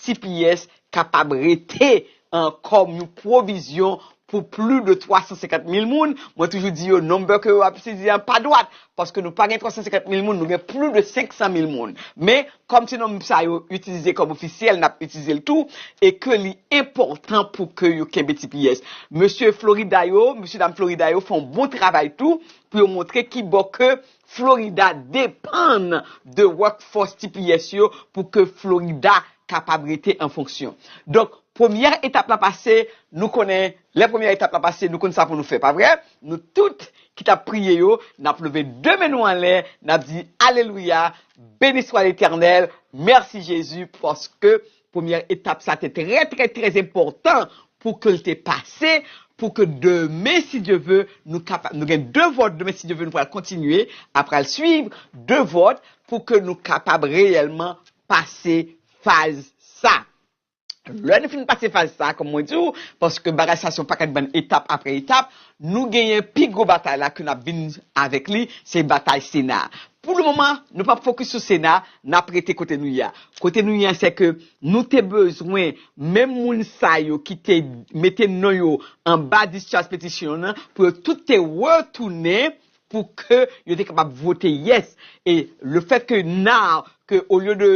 tps kapab rete an kòm yon pwovizyon pou pli de 350 mil moun, mwen toujou di yo number ke yo ap itilize an pa dwat, paske nou pa gen 350 mil moun nou gen pli de 500 mil moun, men kòm se nonb sa yo itilize kòm ofisyèl nap itilize l tou e ke li enpòtan pou ke yo kenbe tps. Mesye Florida yo, mesye dam Florida yo fè yon bon travay tou pou yo montre kibò ke Florida depann de workforce tps yo pou ke Florida kapab rete an fonksyon. Donk, premyè etap la pase, nou konnen, lè premyè etap la pase, nou konn sa pou nou fè, pa vre? Nou tout ki t ap priye yo, n ap leve de men nou anlè, n ap di, Alelouya, Beni swa Letènèl, mèsi Jezi, paske. Premyè etap sa te trè trè trè enpòtan pou ke l te pase, pou ke demen si Dye ve nou kapab, nou gen 2 vòt demen si Dye ve nou pral kontinye a pral swiv, 2 vòt pou ke nou kapab reyèlman pase faz sa. Lè nou fin pase faz sa, kòm mwen di w, paske bagay sa se yon pakèt bann etap apre etap, nou genyen pi gwo batay la ke n ap vin avèk li, se batay Sena a. Pou le moman, nou pap fokis sou Sena, nap rete kote nou ye a. Kote nou ye a se ke nou te bezwen menm moun sa yo ki te mete non yo anba discharge petition nan pou yo tout te retounen pou ke yo te kapab vote yes. E le fait que now ke au lieu de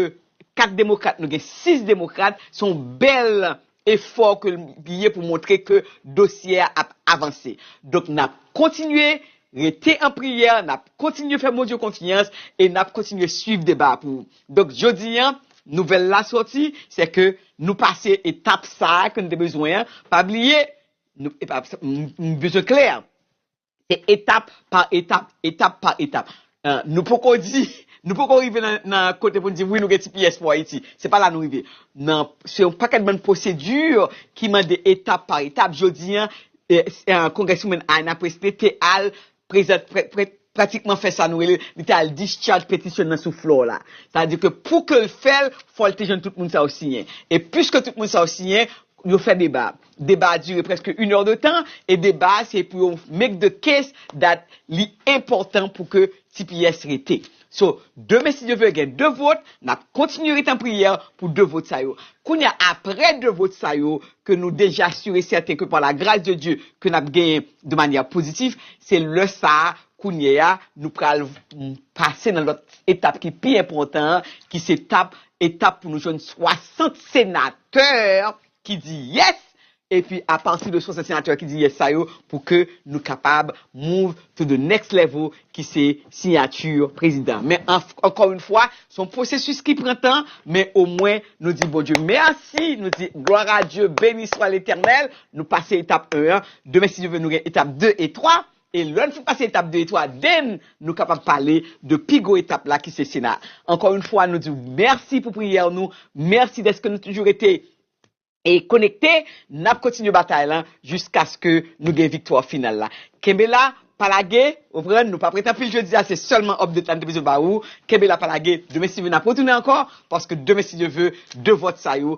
4 demokrat nou gen 6 demokrat se yon bèl efò ke l ye pou montre ke dosye a ap avanse. Donk n ap kontinye rete an priyè, n ap kontinye fè Bondye konfyans e n ap kontinye swiv deba a pou ou. Donk jodi a, nouvèl la sòti, se ke nou pase etap sa a ke n te bezwen an. Pa bliye, nou, epa, m bezwen klè, Se etap pa etap, etap pa etap. Nou poko di, nou poko rive nan kote pou nou di wi nou gen tps pou Ayiti. Se pa la nou rive. Nan, se yon pakèt bann pwosedi ki mande etap pa etap. Jodi an, Congresswoman Ayanna Pressley te al prezante, pratikman fè sa nou rele, li te al discharge petition nan sou floor la. Sa vle di ke pou ke l fè l, fò l te jwenn tout moun sa yo siyen. E piske tout moun sa yo siyen, yo fè deba. Deba a dire preske yn èr de tan e deba a se pou yo make the case that li enpòtan pou ke tps rete. So, demen si Dye vle gen 2 vot, n ap kontinye rete an priyè pou 2 vot sa yo. Kounye a, aprè 2 vot sa yo ke nou deja sur et certain ke par la grâce de Dieu ke n ap genyen de manyè pozitif, se lè sa a kounye a nou pral pase nan lòt etap ki pi enpòtan an ki se tap etap pou nou jwenn 60 senatè ki di yes epi apati de 60 senatè ki di yes sa yo pou ke nou kapab move to the next level ki se siyati prezidan men ankò yon fwa se yon pwosesis ki pran tan men omwen nou di Bondye mèsi nou di glwa a Dye beni swa letènèl nou pase etap 1 an demen si Dye vle nou gen etap 2 e 3. E lè n fin pase etap 2 e 3, den nou kapab pale de pi gwo etap la ki se Sena. Ankò yon fwa nou di w mèsi pou priyè w nou, mèsi dèske nou toujou rete e konekte, n ap kontinye batay lan jiskaske nou gen viktwa final la. Kenbe la, pa lage, ou pran, nou pa prete anpil jodi a, se sèlman update la n te bezwen ba ou, kenbe la pa lage, demen si Dye vle n ap retounen ankò, paske demen si Dye vle, 2 vòt sa yo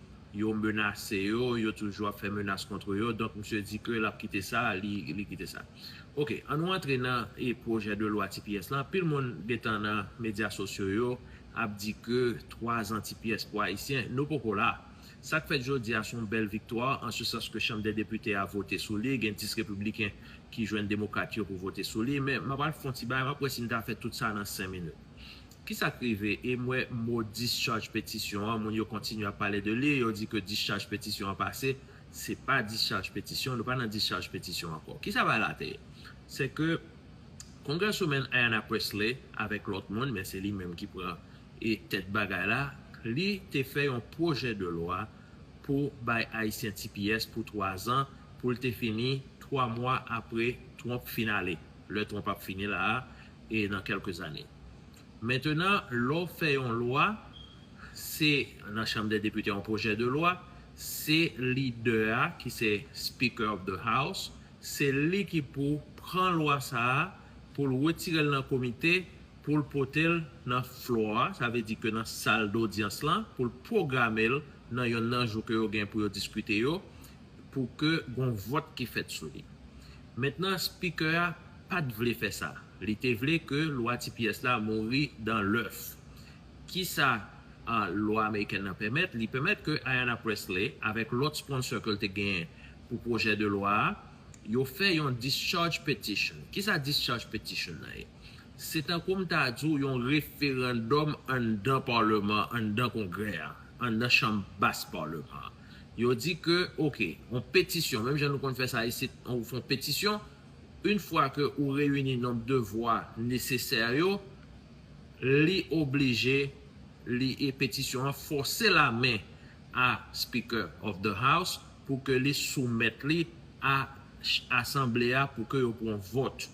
Yo menase yo, yo toujou ap fè menas kontre yo, donk misye di ke lap kite sa, li kite sa. Ok, an nou antre nan pwojè de lwa tps lan, anpil moun gentan nan medya sosyo yo ap di ke 3 zan tps pou Ayisyen, nou poko la. Sak fèt jodi a son bèl viktwa, an se sans ke chanm dè depite a vote sou li, gen 10 repibliken ki jwenn demokrat yo pou vote sou li, men map al fon ti bagay, map wè si m ta fè tout sa nan 5 minit. Kisak rive e m wè mo discharge petition an moun yo kontinye ap pale de li yo di ke discharge petition an pase se pa discharge petition nou pa nan discharge petition ankò kisa bagay la te ye se ke Congresswoman Ayanna Pressley avèk lòt moun men se li menm ki pran e tèt bagay la li te fè yon pwojè de lwa pou bay ayisyen tps pou 3 zan pou l te fini 3 mwa apre Trump fin ale lè Trump ap fini la a e nan kèlke zane. Mentenan, lè w fè yon lwa, se nan chanm dè depite yon pwojè de lwa, se lidè a ki se Speaker of the House, se li ki pou pran lwa sa a, pou l wetire l nan komite, pou l pote l nan flo a, sa vle di ke nan sal dodyans lan, pou l pwograme l nan yonn nan jou ke yo gen pou yo diskite yo, pou ke gon vòt ki fèt sou li. Mentenan, Speaker a pa t vle fè sa. Li te vle ke lwa tps la mouri dan lèf. Kisa lwa amerikèn nan pèmèt? Li pèmèt ke Ayanna Pressley avèk lòt sponsor ke l te genyen pou pwojè de lwa a, yo fè yon discharge petition. Kisa discharge petition nan ye? Se tankou m ta di w yon referandòm anndan parleman, anndan kongrè a, anndan chanm bas parleman an. Yo di ke, ok, yon petisyon, menm jan nou konn fè sa isit, ou fè yon petisyon, Une fwa ke ou reyini nonb de vwa nesesè yo, li oblije li e petisyon an fòse la men a Speaker of the House pou ke li soumèt li a Asanble a pou ke yo pran vòt.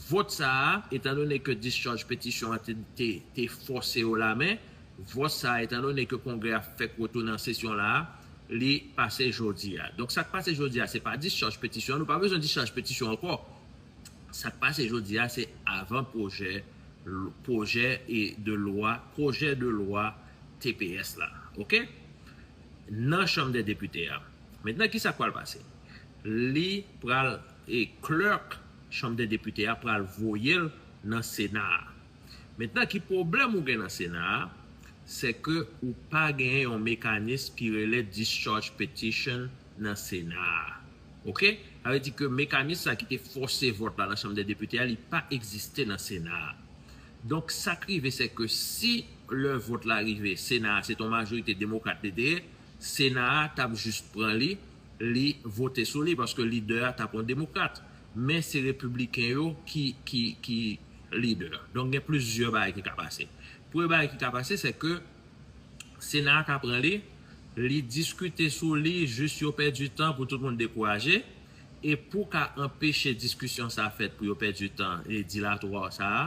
Vòt sa a, etandone ke discharge petisyon an te fòse yo la men, Vòt sa a, etan done ke Kongrè a fèk retounen an sesyon la a, li pase jodi a. Donk sa k pase jodi a, se pa dischaj petisyon an. Nou pa bezwen dischaj petisyon ankò. Sa k pase jodi a, se avan pwojè pwojè e de lwa pwojè de lwa tps la. Oke? Nan Chanm dè Depite a. Mentnan ki sa k pral pase? Li pral e clerk Chanm dè Depite a pral voye l nan Sena a. Mentnan ki pwoblèm ou gen nan Sena a, se ke ou pa gen yon mekanism ki rele discharge petition nan Sena a. Ok, sa vle di ke mekanism sa ki te fòse vòt la nan Chanm dè Depite a li pa egziste nan Sena a. Donk sa k rive se ke si lè vòt la rive Sena a se te yon majorite demokrat li te ye, Sena a t ap jis pran li li vote sou li paske lidè a tap yon demokrat men se repibliken yo ki ki lidè donk gen plizyè bagay ki ka pase premye bagay ki ka pase se ke sena a ka pran li li diskite sou li jis yo pèdi tan pou tout moun dekouraje e pou ka anpeche diskisyon sa fèt pou yo pèdi tan e dilatwa sa a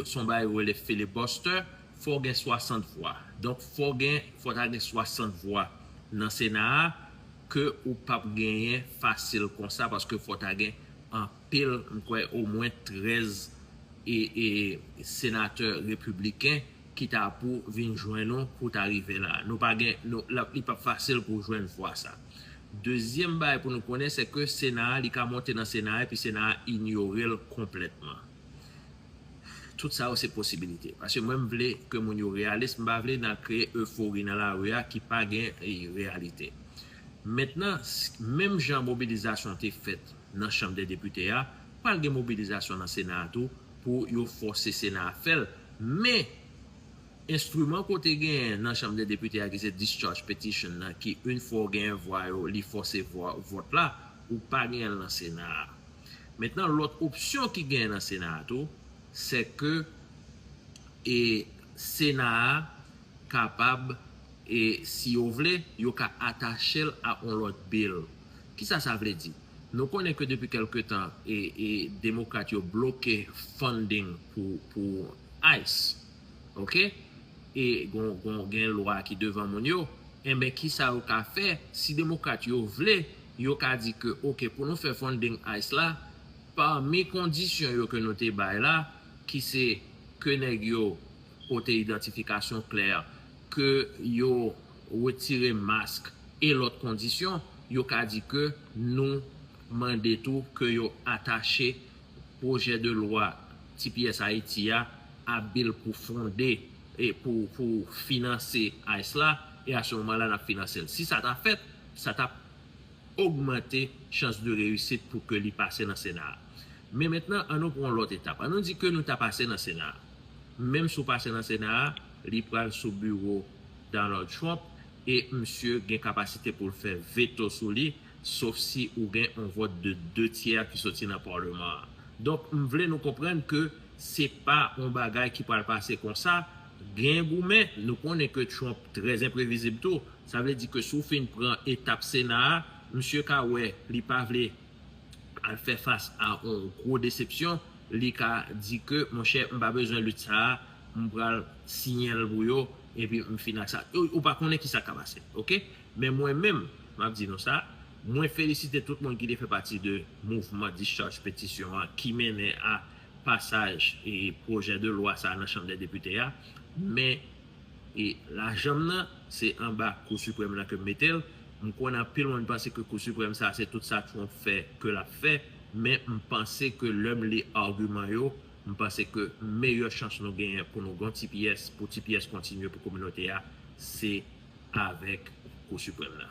son bagay yo rele filibuster Fò gen 60 vwa. Donk fò gen fò ta gen 60 vwa nan sena a ke ou pap genyen fasil konsa paske fò ta gen anpil m kwè omwen 13 e e senatè repibliken ki ta pou vin jwenn ou pou ta rive la. Nou pa gen nou la li pap fasil pou jwenn vwa sa. Dezyèm bagay pou nou konnen se ke sena a li ka monte nan sena a epi sena a inyore l konplètman. Tout sa yo se posibilite. Paske mwen m vle ke moun yo reyalis, m pa vle nan kreye eufori nan lari a ki pa gen reyalite. Mentnan, menm jan mobilizasyon te fèt nan chanm dè depite a, pral gen mobilizasyon nan sena a tou pou yo fòse sena a fè l. Men, enstriman ke w te genyen nan chanm dè depite a ki se discharge petition nan ki, in fwa w genyen vwa yo, li fòse vwa, vòt la, ou pa genyen l nan sena a. Mentnan lòt opsyon ki genyen nan sena a tou, sè ke e sena a kapab e si yo vle, yo ka atache l a on lòt bill. Kisa sa vle di? Nou konnen ke depi kelke tan e e demokrat yo bloke funding pou pou ice. Ok e gon gen lwa ki devan moun yo enben kisa yo ka fè si demokrat yo vle yo ka di ke ok pou nou fè funding ice la pami kondisyon yo ke nou te bay la ki se ke nèg yo pote idantifikasyon klè ke yo wetire mask e lòt kondisyon yo ka di ke nou mande tou ke yo atache Pwojè de lwa tps Ayiti a abil pou fonde e pou pou finanse ice la e a se moman la nap finanse l. Si sa ta fèt, sa tap ogmante chans de reyisit pou ke li pase nan sena a. Men mentnan an nou pran yon lòt etap. An nou di ke nou ta pase nan sena a. Menm si w pase nan sena a, li pral sou biwo Donald Trump e misye gen kapasite pou l fè veto sou li. sof si ou gen on vòt de 2 tyè ki soti nan Paleman an. Donk, m vle nou konprann ke se pa on bagay ki pral pase konsa, gen goumen, nou konnen ke Trump trè enprevizib tou, sa vle di ke si w fin pran etap Sena a, misye ka wè li pa vle al fè fas a on gwo desepsyon, li ka di ke monchè m pa bezwen lit sa a, m pral siyen l pou yo, epi m fini ak sa. Ou pa konnen kisa k ka pase. Ok? Men mwen menm, m ap di nou sa, mwen felisite tout moun ki te fè pati de mouvman discharge petisyon an ki mennen a pasaj pwojè de lwa sa a nan chanm dè depite a, men lajan m nan se anba kou siprèm nan ke m mete l, m konnen anpil moun panse ke kou siprèm sa a se tout sa Trump fè ke l ap fè, men m panse ke lè m li agiman yo, M panse ke meyè chans nou genyen pou nou gen yon ti pyès, pou ti pyès kontinye pou kominote a, se avèk Kou Siprèm nan.